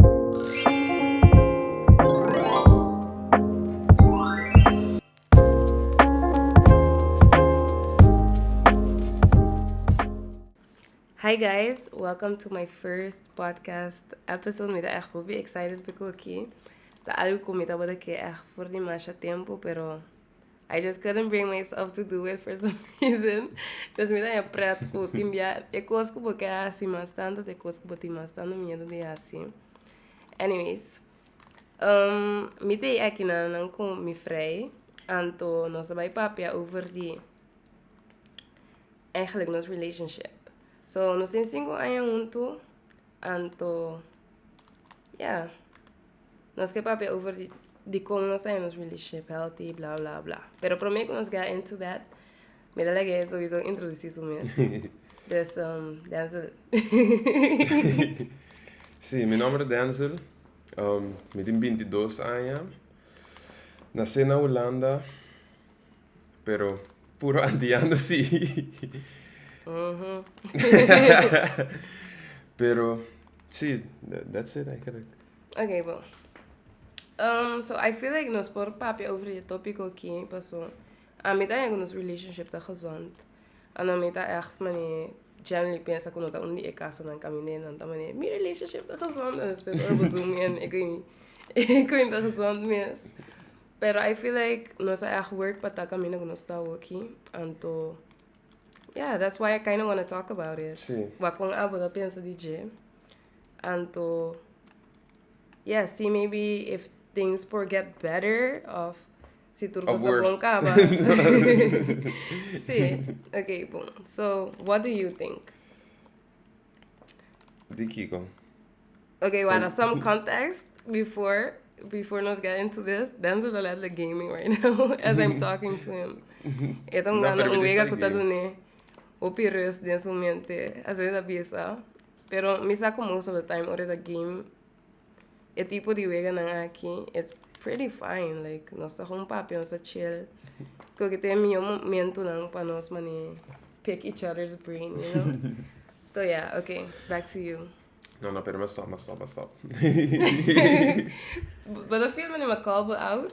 Hi guys, welcome to my first podcast episode. Mi ta echt hopi excited pa cu aki. Ta algo cu mi tabata ke echt for di masha tempo, pero I just couldn't bring myself to do it for some reason. Dus mi ta e pret ku tin bia e kos ku bo ke hasi mas tantu ta e kos ku bo tin mas tantu miedu di hasi. Anyways, um mi ta e aki nananan ku mi frei, anto nos ta bai papia over di eigenlijk nos relationship. So, nos tin sinku aña huntu, anto, ya. Nos ke papia over di di kon nos ta haña nos relationship healthy bla bla bla pero prome ku nos ga into that mi ta laga e sowieso introdusí su mes dus Denzel Si, mi nòmber ta Denzel mi tin binti dos aña nasé na Hulanda. Pero puro antiando si. Pero si, that's it eigenlijk. Oké, bo. Um, so I feel like nos por papia over e tópico ki, paso a mi ta nos relationship ta gezond. Ano a mi ta echt mane generally pensa ku no ta un di e kasanan ka mi neer nan ta mane mi relationship ta gezond, en despues ora bo zoom in, e ku e ku ta gezond mes. Pero I feel like nos a echt work pa ta kaminda ku nos ta oki anto yeah that's why I kinda wanna talk about it Sí. wak kon abo ta pensa di dje anto yeah see maybe if things por get better of si tur Of kos ta worse. bon kaba sí okay bon so what do you think Di kiko? Ok, wara, some context before before nos get into this. Denzel ta letterlijk gaming right now as I'm talking to him. E ta jugando un wega ku ta dune hopi rust den su mente, asina ta bisa. Pero mi sa ku most of the time ora e ta game, E tipo di weganan aki it's pretty fine like nos ta hoon papia nos ta chill creo que ta e miyo momentonan pa nos mane pick each other's brain you know so yeah okay back to you No, no, pero me stop, me stop, me stop. Bo ta feel mane ma call bo out?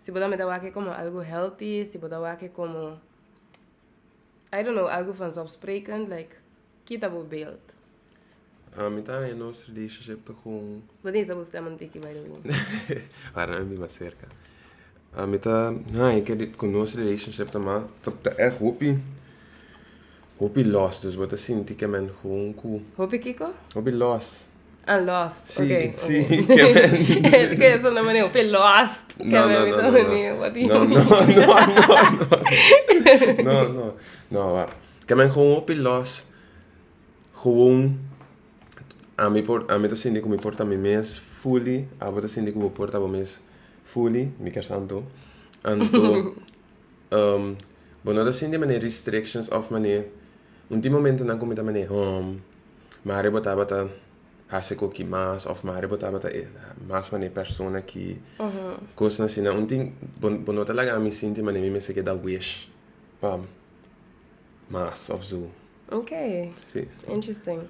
Si bo ta mira wak e komo algu healthy, si bo ta wak e komo, I don't know, algu vanzofsprekend, like, kita bo beeld. Ah, mi ta haña nos relationship ta con. Bo tin sa bo stem antik i by the way. Ahora nan a biba cerca. Ah, mi ta haña ke cu nos relationship ta mas, ta, ta echt hopi, hopi los. Dus bo ta sinti ke men juncu. Hopi kiko? Hopi los. Ah, lost. Sí, okay. sí. Kevin. Kevin suena mané un pe lost. No, no, no, no, no. No, no, no, no. No, no. No, wa. Kevin gewoon un pe lost. Gewoon ami por ami ta sinti ku mi por ta mi mes fully. Abo ta sinti ku bo por ta bo mes fully, Miker Santo. Anto um bo no ta sinti mané restrictions òf mané un di momentunan ku mi ta mané hum. Mari bo tabata hasi ku ki mas of mari bo tabata mas manera persona ki kosnan asina un tin bo no ta laga ami sinti manera mi mester ke da wish pa mas of su. Ok interesting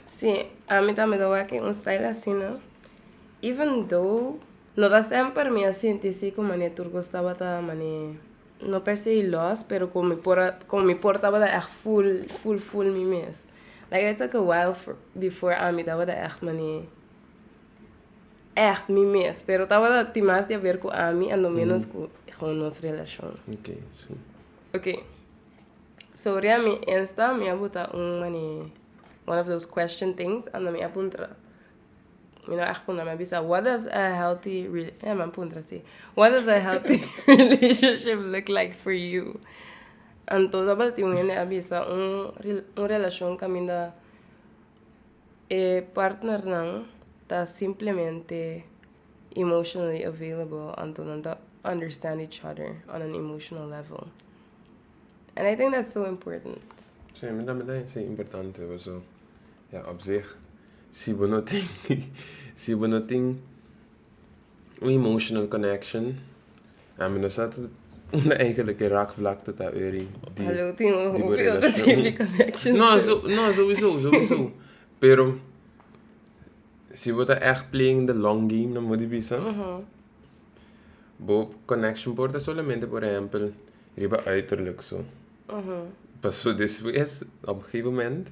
si ami tambe ta wak un style asina even though no ta semper mi a sinti si ku manera tur kos tabata manera No per se i lòs, pero komo mi por a, komo mi por tabata ègt ful, ful, ful mi mes. Like e ta kawèl for, before ami tabata ègt mane, ègt mi mes, pero tabata tin mas di haber ku ami a no ménos ku hon nos relashon. Ok, sí. Ok, so riba mi Insta mi a bota un mane one of those question things anda mi a puntra. Mi no echt puntra, mi a bisa, what does a healthy rela-, mi a puntra si, what does a healthy relationship look like for you? Anto tabata un hende a bisa, un relacion caminda e partnernan ta simplemente emotionally available, anto nan ta understand each other on an emotional level. And I think that's so important. Sí, mi tambe ta denki si importante, pasobra Ja op zich, si bo no tin si bo no tin un emotional connection, ami no sa ta unda eigenlijk e raakvlakte ta ori di di bo relashon. No, so no souiso, souiso, pero si bo ta echt playing the long game nan bo di bisa bo connection por ta solamente por ehempel riba uiterlijk so, paso despues op gegeven moment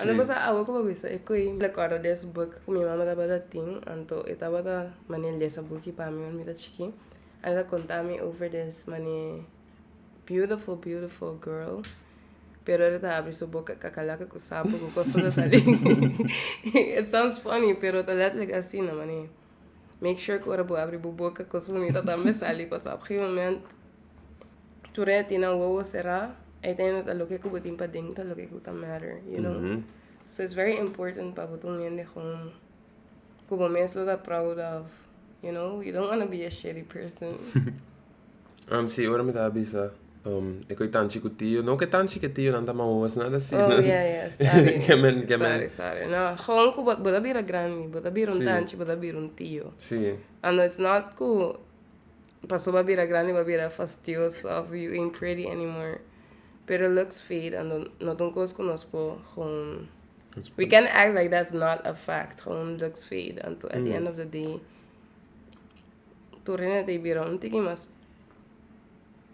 A lo cosa awe cu bo bisa e koe. Mi ta corda des book cu mi mama tabata tin anto e tabata mane lesa booki pa mi wen mi ta chiki and e ta conta mi over des mane beautiful beautiful girl pero ora e ta abri su boca cacalaca cu sapo cu cos ta sali it sounds funny pero ta letterlijk asina mane make sure cu ora bo abri bo boca cos bunita tambe sali pasobra op gegemoment tur e tin nan wowo será e tin nan ta loke ku bo tin pa dentro loke ku ta matter you know mm -hmm. so it's very important pa bo un hende kon ku bo mes lo ta proud of you know you don't want to be a shitty person um si ora mi ta bisa um e koi tan chikutio no ke tan chikutio nan ta ma wowo sina ta si oh yeah yeah sorry kemen kemen sorry sorry no kon ku bo bo ta bira grandi bo ta bira un tanchi bo ta bira un tio si and it's not ku Paso bo a bira grandi bo a bira fastioso of you ain't pretty anymore pero looks fade and not un cos cu nos por gewoon we can act like that's not a fact gewoon looks fade and to at the end of the day tur rene ta bira un tiki mas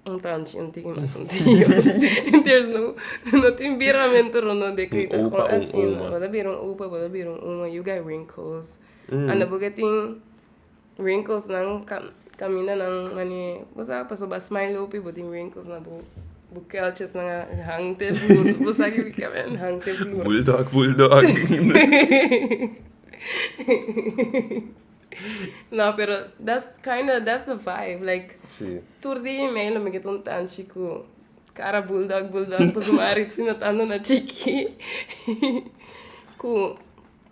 un tanchi un tiki mas un tiki mas there's no no tin biramento rondon de crita un opa un oma bo ta bira un opa bo ta bira un oma you got wrinkles and bo ke tin Wrinkles nan caminda nan manera bo sabe paso bo a smile lopi bo tin wrinkles na bo bo keltjes nan a hang te vloer bo sa kico kico a hang te vloer bulldog bulldog no pero that's kind of that's the vibe like si tur dia y medio lo me get un tanchi cu cara bulldog bulldog pasobra mi aritz no tando na chiki cu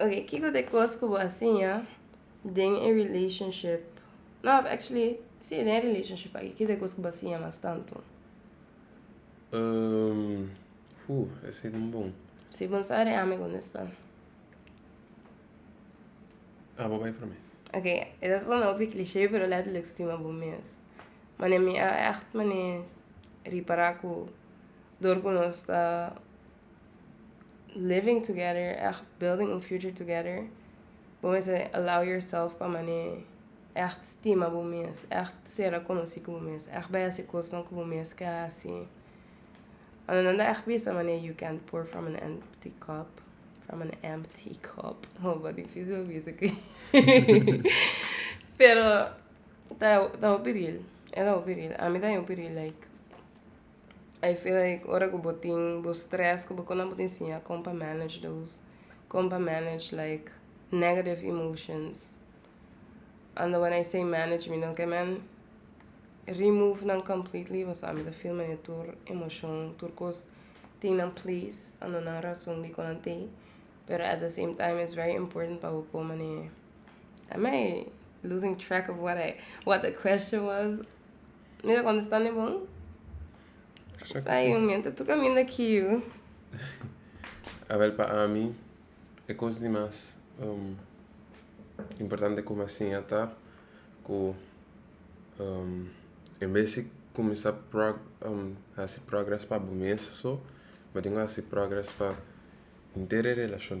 Ok, kiko ta e kos ku bo a siña den e relationship? No, actually, si, den e relationship aki, kiko ta e kos ku bo a siña mas tantu? Ooh, esei ta bon. Si bo sa di ami kunda sta. Abo bai prome. Ok, e ta sona hopi cliche, pero letterlijk stima bo mes. Wanneer mi a ègt manera ripará ku dor ku nos ta. living together echt building un future together bo mester allow yourself pa manera echt stima bo mes echt sera conoci cu bo mes echt bay haci cosnan cu bo mes ke haci ando nan ta echt bisa manera you can't pour from an empty cup from an empty cup oh dificil pa bisa aki pero ta ta hopi real e ta hopi real ami ta hopi real like I feel like ora ku bo tin bo stress ku bo konan bo tin siña kon pa manage those kon pa manage like negative emotions and when I say manage mi no ke men remove nan completely pasobra mi ta feel manera tur emocion tur kos tin nan place a no nan rason di kon nan te pero at the same time it's very important pa bo por mane am I losing track of what I what the question was. Mi ta contesta ne bon. Sa yu mi ta caminda aki yu. Awel pa ami e cos di mas importante cu mi a siña ta cu en bes di cuminsa haci progres pa bo mes so bo tin haci progres pa inter e relacion.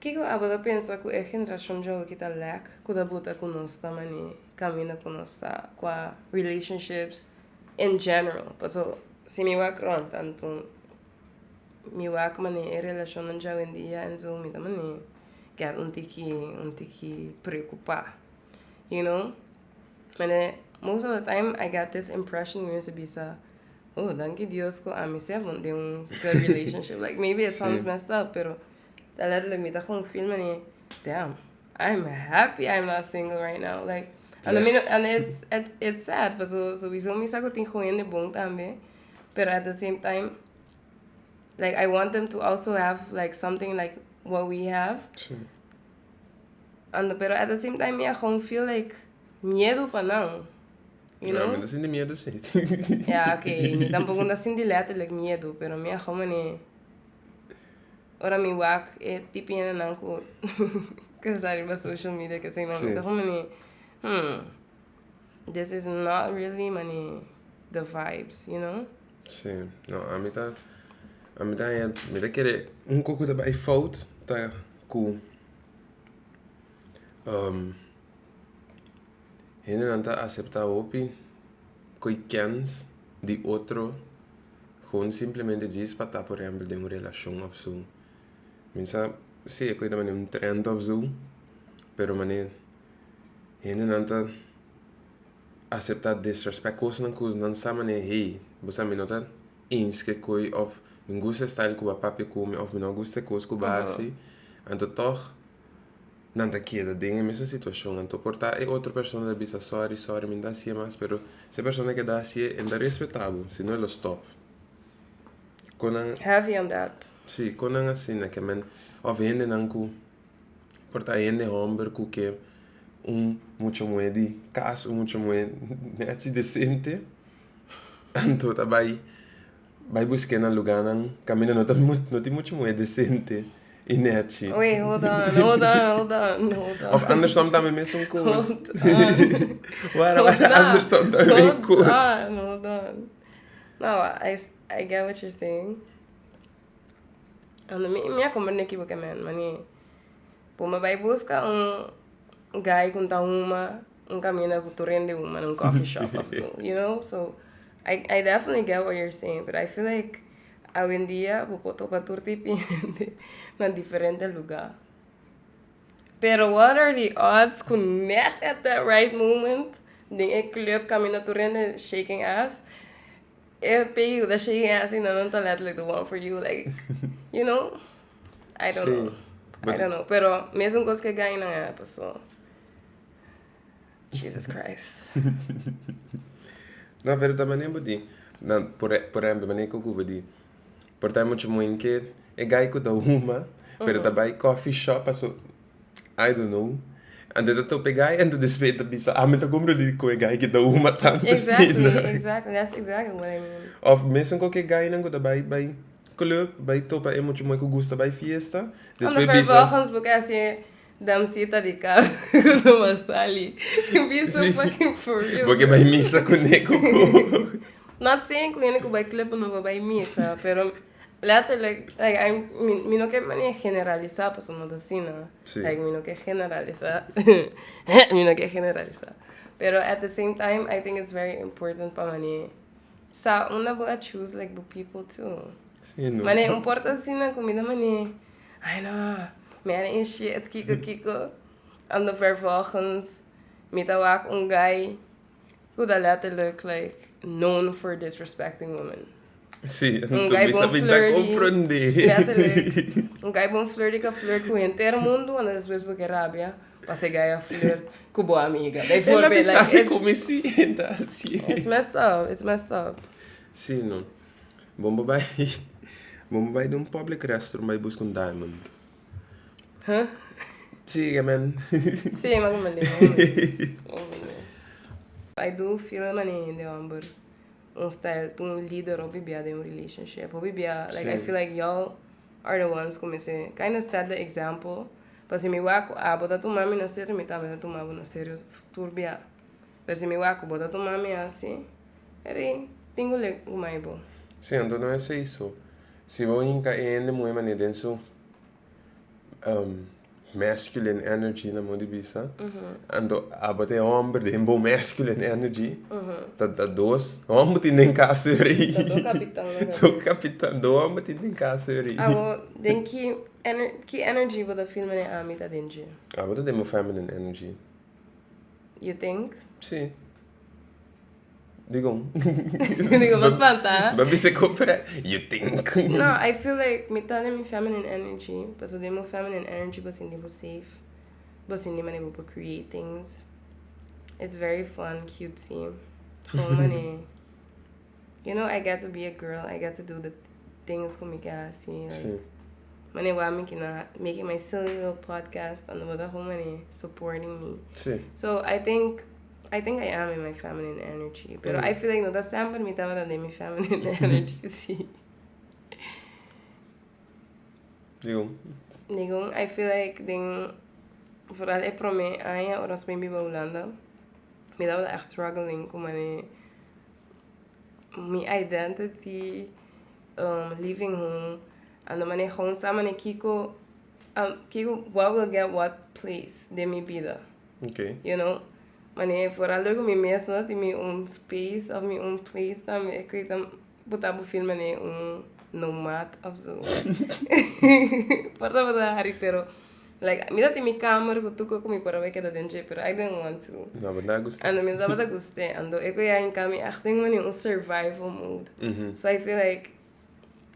Kiko abo ta pensa ku e generashon jòven ki ta lèk ku ta buta ku nos ta mane kaminda ku nos ta kua relationships in general paso si mi wak rònt tantu mi wak mane e relashonnan jawendia en su mi ta mane kèt un tiki un tiki preokupá you know. Mane, most of the time I get this impression di mester bisa, Oh, danki Dios ku ami sef no den un good relationship. like, maybe it sounds messed up, pero ta letterlijk mi ta kon feel mane, damn, I'm happy I'm not single right now. Like, and I mean, Yes. and it's, it's, it's sad, paso souiso mi sa ku tin ku hende bon tambe, pero at the same time, like, I want them to also have, like, something like what we have, Sí. Ando pero at the same time mi a gewoon feel like miedu pa nan. You know? mi no sinti miedu si. ya, ok. Mi tampoco no sinti letterlijk miedu, pero mi a gewoon mane... Ora mi wak e tipi hende nan ku... ku sa riba social media, kesei, mi ta gewoon mane... Hmm... This is not really mani the vibes you know. Si no ami ta ami ta haña mi ta kere oko ku ta bai fout ta ku um hendenan ta asepta hopi kuekièns di otro pur simplemente djis pa ta por ehempel den un relashon of su mi sa si e kue ta mani un trend of su pero mani. hendenan ta asepta disrespect kosnan ku nan sa mane hey bo sa mi no ta inshke koe of mi gusta e style ku bo a papia ku mi of mi no gusta e kos ku bo a hasi anto tog nan ta keda den e mesun situashon anto por ta e otro persona ta bisa sorry sorry mi no ta hasie mas pero si e persona ta keda hasie e ta respeta bo si no e lo stop konan si konan asina ke men of hendenan ku. por ta hende homber cu ke un mucha muhe di cas, un mucha muhe nechi decente, anto ta bai bai busqué na luganan caminda no ta no tin mucha muhe decente y nechi. Wait, hold on, hold on, hold on, hold on. Of andersom tambe mesun cos. Hold on. Wara, Hold wara, on. andersom tambe mesun Hold cos. on, hold on. Nou, I, s- I get what you're saying. Ando mi mi a komprende un ekibokament, mani p'un babay buska un guy ku ta huma, un kaminda ku tur hende huma na un coffee shop of su, you know? So, I I definitely get what you're saying, but I feel like awendia bo por topa tur tipo di hende na diferente luga. Pero what are the odds ku nèt at that right moment, den e club kaminda tur hende shaking ass. E peiu ta shake en asina nan ta letterlijk the one for you like you know I don't know I don't know pero mesun cos ke guy nan a happen so Jesus Christ. No pero ta mane bo tin nan por por ehemplo mane ku ku bo di por ta muchu moin ke e guy ku ta huma pero ta bai coffee shop paso I don't know Anto ta tope gai anto despues e ta bisa ami ta compra di cu e gai ki ta huma tanto asina of mesun cu ki gainan cu ta bay bay club bay topa e muchu moe cu gusta bay fiesta despues bisa boke bay misa cune cu cu. Letterlijk, like I, mi, mi no ke mane generalisa, paso no ta asina. Sí. Like, mi no ke generalisa. mi no ke generalisa. Pero at the same time, I think it's very important pa mane sa unda bo a choose like bo people too. Sí, no. Mane, un por ta asina ku mi ta mane, ai no, mi a initiate kiko kiko, on the vervolgens, mi ta wak un guy, Udalete look like known for disrespecting women. Sí, Un tu guy bisa bon pinta flirty. comprende. Udalete look. Un guy bon flirty ka flirt ku henter mundo en después bo ke rabia pa se guy a flirt ku bo amiga. Ela Bijvoorbeeld bisa like it's como si ta así. it's messed up. It's messed up. Sí no. Bon bo bai bon bo bai den un public restroom bai buska un diamond. Sigue men. Sigue man mali. I do feel mane hende homber un style to un leader hopi bia den un relationship. Hopi bia like sí. I feel like y'all are the ones come se kind of set the example. Pasi mi wak a bo ta tuma mi na serio mi tambe ta tuma bo na serio tur bia. Pero si mi wak ku bo ta tuma mi hasi eri, tin ku lek ku mai bo. Si anto no esei, so si bo hinka e hende muhe mane den su masculine energy na mon di bisa, anto abo ta e homber den bo masculine energy, ta ta dos homber tin den kas yorii. Ta dos kapitan na kabes. dos kapitan, dos homber tin den kas yorii. Abo den ki ener ki energy bo ta feel mane ami ta den dje? Abo ta den bo feminine energy. You think? Sí. Digom. Digo, pa spanta. Ba bisa ko pre. You think? No, I feel like mi ta den mi feminine energy. Paso den mi feminine energy bo sindi bo safe. Bo sindi mane bo por create things. It's very fun, cutesy. Gewoon mane. You know I get to be a girl I get to do the things cu mi ke haci like Sí. mane wami ki na making my silly little podcast and bo ta humane supporting me Sí. so I think I think I am in my feminine energy pero Mm. I feel like no ta semper mi tabata den mi feminine energy si Digo. Digo I feel like den vooral e prome aña ora nos bin biba Hulanda mi tabata echt struggling cu mane Mi identity um living hun a no manera hon sa manera kiko um kiko what will get what place den mi bida Okay. you know manera e for a loke mi mes no tin mi un space of mi un place tambe e koi ta bo ta bo feel manera un nomad of zo por ta bo ta hari pero Like mi ta tin mi kamer ku tur ko ku mi por a wek e ta den dje pero I didn't want to ando mi no tabata guste ando e ku ya hinka mi aht den wani un survival mode so I feel like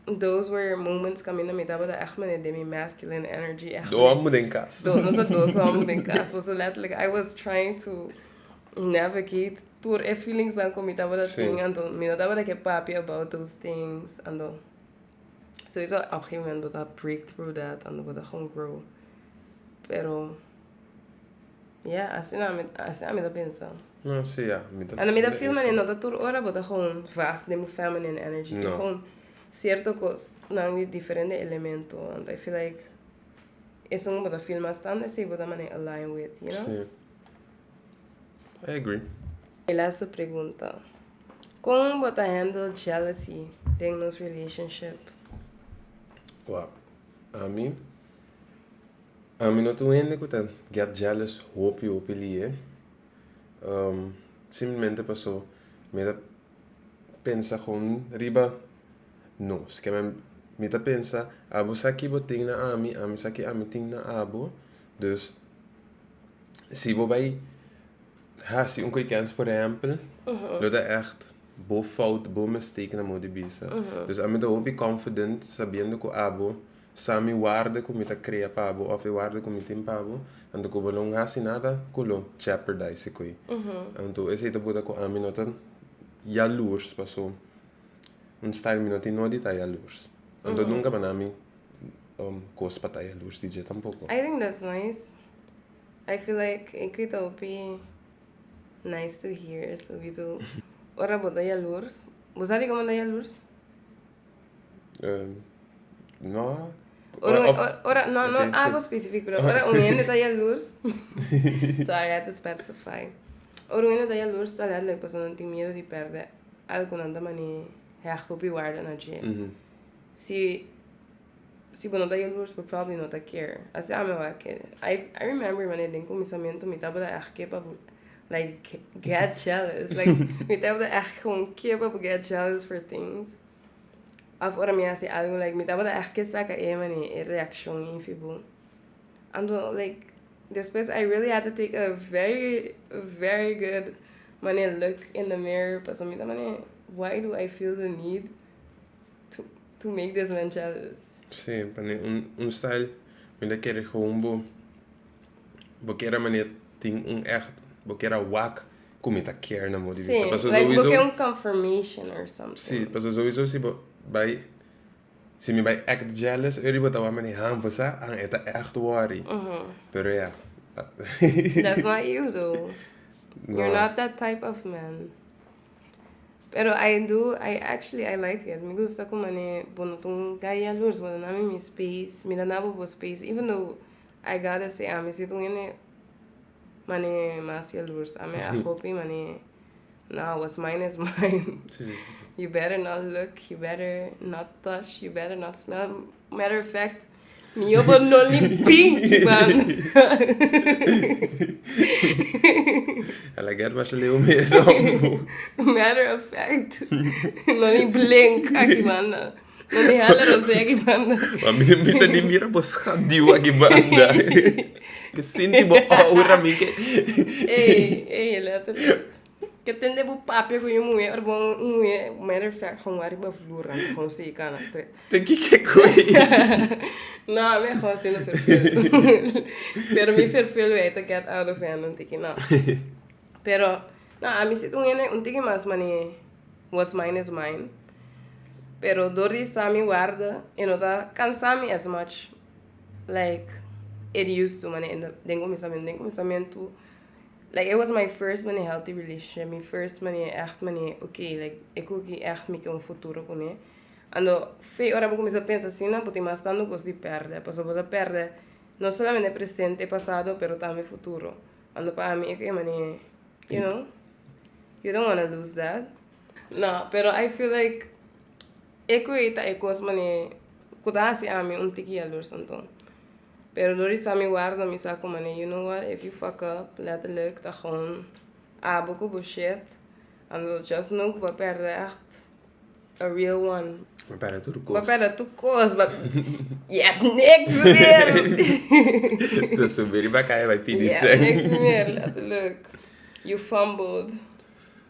those were moments kaminda mi tabata aht mende den mi masculine energy aht Dos amo den kas dos nos a dos amo den kas por so letterlijk I was trying to navigate tur e feelings nan ku mi tabata tin ando mi no tabata ke papia about those things ando. Souso ap gin moment bo ta break through that and bo ta con grow pero ya asina mi asina mi ta pensa No si ya mi ta And mi ta feel mane no ta tur ora bo ta con vast den bo feminine energy No. con cierto cos nan di diferente elemento and I feel like esun bo ta feel mas tanda esey bo ta mane align with you know. Si I agree. E laatste pregunta. Kon bo ta handle jealousy den nos relationship? Wow. Ami ami no ta un hende ku ta get jealous hopi hopi lihe. Um simplemente paso mi ta pensa kon riba nos. Mi ta pensa abo sa ke bo tin na ami, ami sa ke ami tin na abo. Dus si bo bai Hasi un koikens por ehempel lo ta echt bo fout, bo mistake na modi bisa. Dus ami ta hopi confident sabiendo cu abo sa mi warde cu mi ta crea pa bo of e warde cu mi tin pa bo, anto cu bo no hasi nada cu lo jeopardize ecoe. Anto esey ta bota cu ami no ta jaloers paso un style mi no tin no di ta jaloers. Anto nunca bana mi cos pa ta jaloers di dje tampoco. I think that's nice. I feel like e quit a hopi nice to hear su bisu ora bo ta yalurs bo sa di como ta yalurs no ora un ora no no abo specific pero ora un hende ta yalurs so I had to specify ora un hende ta yalurs ta let like pasonan tin miedo di perde algo nan ta mane hecht hopi warde na dje si Si bo no ta jaloers por probably no ta kier. Así ami awor a kere. I I remember mané den cominsamiento mi tabata echt kepa por like get jealous. Like mi tabata echt gewoon kepa por get jealous for things. Of ora mi haci algo like mi tabata echt ke saca e mané e reaccion efi bo. Anto like despues I really had to take a very very good mané look in the mirror pasobra mi ta mané why do I feel the need to make this man jealous. Sí, pa ne un, un style mi ta kere gewoon bo bo kere mane tin un echt bo kere wak ku mi ta care na bo di vista. Sí, Paso like bo sowieso kere un confirmation or something. sí, paso sowieso si bo bai si mi bai act jealous eri bo ta wak mane ha bo sa an e ta echt worry. Pero ya. That's not you though. You're not that type of man. Pero I do I actually I like it mi gusta ku mane bo no ta un gay jalur so bo ta na mi mi space mi ta na bo bo space even though I gotta say ami si ta un hende mane mas jalurs ami a hopi mane nah what's mine is mine you better not look you better not touch you better not smell matter of fact Mi yo por no limpin ki banda. A la guerra was leo mesa. Matter of fact. No mi blink aki banda. No mi hala rosé aki banda. Ma mi no bisa ni mira bo schaduw aki banda. Sinti bo aura mi ke. Ey, ey, let it. Ke tende bu papia ku yu muhe ora bo un muhe matter of fact hon wari riba flur anto hon si i kana stre. Te kike ku e i? No ami a hon sindo ferfelu pero mi ferfelu ei ta get out of hand un tiki no pero no ami si ta un hende un tiki mas mane what's mine is mine pero dor di sa mi warda e no ta kansa mi as much like it used to mane den kuminsamentu den kuminsamentu. Like e was my first mane healthy relationship mi first mane echt mane ok like e kuki echt mi ke un futuro kuné ando fe ora bo kuminsá pensa asina bo tin mas tantu kos di pèrdè pasobra bo ta pèrdè no solamente e presente e pasado pero tambe e futuro ando pa ami eke mane you know you don't wanna lose that no pero I feel like e ku ei ta e kos mane ku ta hasi ami un tiki yalors anto. Pero dor di sa mi warda mi sa cu mane you know what if you fuck up letterlijk ta gewoon abo cu bo shit and lo just know cu bo a perde echt a real one Bo a perde tur cos bo a perde tur cos bo a je hebt niks meer Ta subi riba caya bay pidi sing je hebt niks meer letterlijk you fumbled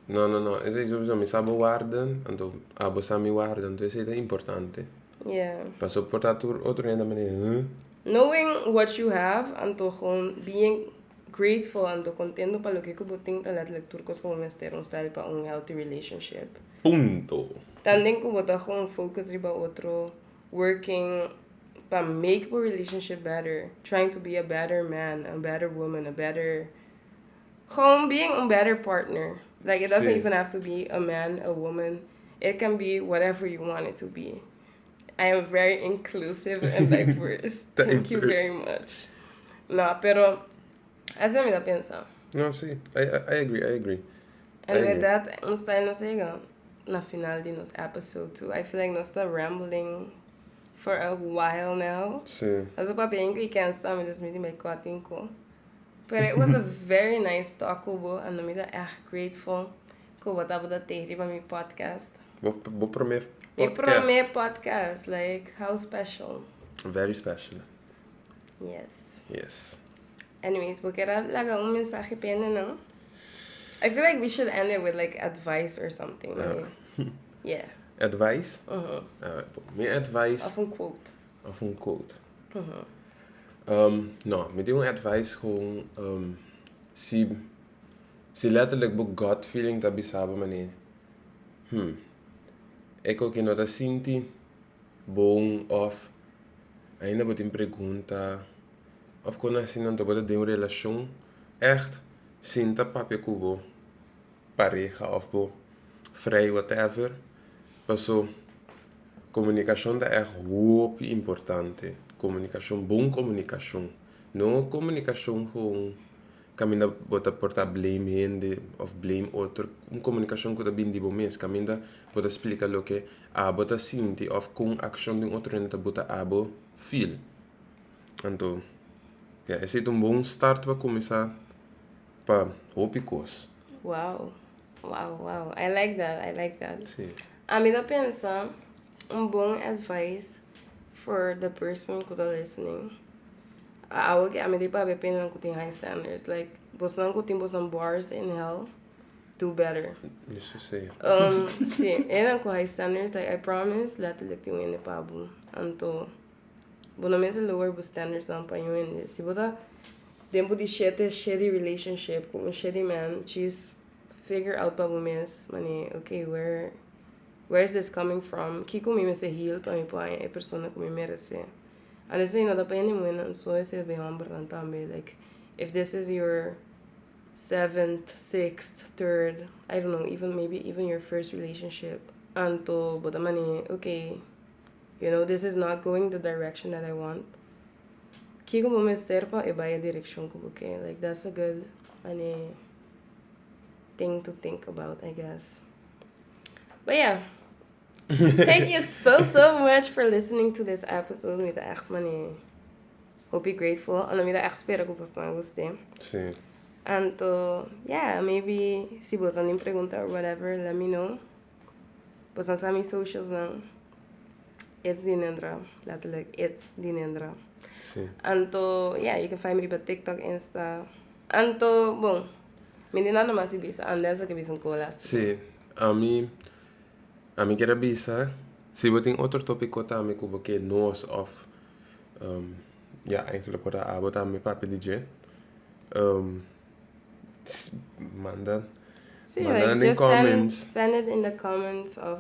No no no esey sowieso mi sa bo warda anto abo sa mi warda anto esey ta importante. Yeah. Paso por ta tur otro hende mane huh. Knowing what you have anto con being grateful anto contento pa loke cu bo tin ta latlek tur cos cu bo mester un style pa un healthy relationship. Punto. Tambe cu bo ta con focus riba otro working pa make bo relationship better, trying to be a better man, a better woman, a better Gewoon being un better partner. Like it doesn't Sí. even have to be a man, a woman. It can be whatever you want it to be. I am very inclusive and diverse. Ta Thank you diverse. very much. No, pero así mi ta pensa. No, sí. I, I, I agree, I agree. I En agree. verdad, ons ta en nos ega na final di nos episode too. I feel like nos ta rambling for a while now. Sí. Nos a papia in cu Ikensta, mi dus mi tin bay cutting cu. Pero it was a very nice talk cu bo and mi ta erg grateful cu bo tabata tey riba mi podcast. Bo, bo prome podcast. Mi prome podcast, like how special. Very special. Yes. Yes. Anyways, bo kera laga un mensahe pa endenan? I feel like we should end it with like advice or something. Yeah. yeah. Advice? Uh -huh. uh, mi advice. Of een quote. Of un quote. Ehm, no, mi tin un advice cu ehm, si, si letterlijk bo gut feeling ta bisa bo manera, hmm, e koki no ta sinti bon of ainda bo tin pregunta of con asina anto bo ta den un relacion echt sin ta papia cu bo. pareha of bo frei whatever paso comunicacion ta echt hopi importante comunicacion bon comunicacion no comunicacion gewoon caminda bo ta por ta blame hende of blame otro un comunicacion cu ta bini di bo mes caminda bo ta splica loke abo ta sinti of cu un accion di un otro hende ta buta abo feel anto esey ta un bon start pa cuminsa pa hopi cos. Wow, wow, wow. I like that, I like that. Sí. A mi ta pensa un bon advice for the person ku ta listening. A awo ke a mi di papi e pende nan ku tin high standards. Like, bosnan ku tin bosan bars in hell, do better. Eso sí. Um, sí, eran ku high standards, like, I promise, letterlijk tin wende pa bo. Anto, Bo no mester lower bo standards nan pa un hende. Si bo ta den bo di shete shitty relationship ku un shitty man, chis figure out pa bo mes, mane, ok, where where is this coming from? Kiko mi mester heal pa mi por haña e persona ku mi merese? An esei no ta pa hende muhernan, so es el be hòmbernan tambe. Like, if this is your seventh, sixth, third, I don't know, even maybe even your first relationship, anto bo ta mane, ok. You know this is not going the direction that I want kiko bo mester pa e bai e direccion cu bo ken like that's a good mane thing to think about I guess but yeah thank you so so much for listening to this episode mi ta echt mane hopi grateful and mi ta echt spera cu pasan cu usted sí anto yeah maybe si bo ta nin pregunta or whatever let me know Bosa sa mi socials nan it's di nendra letterlijk it's di nendra sí. anto yeah you can find me riba tiktok insta anto bon mi di nada mas bisa anel sa ke bisa un cola sí a mi a mi quiero bisa si bo tin otro topico tambe ku bo ke nos of um ya eigenlijk por a abo tambe papia di dje um. Manda, manda den comments. Send, send it in the comments of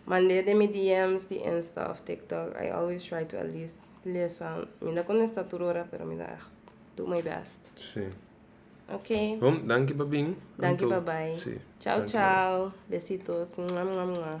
mandeer den mi DMs di Insta of TikTok. I always try to at least lesa. Mi no contesta tur ora, pero mi da echt do my best. Sí. Ok. Hom, danki pa bini. Danki pa bai. Sí. Ciao, ciao. Besitos. Mua, mua, mua.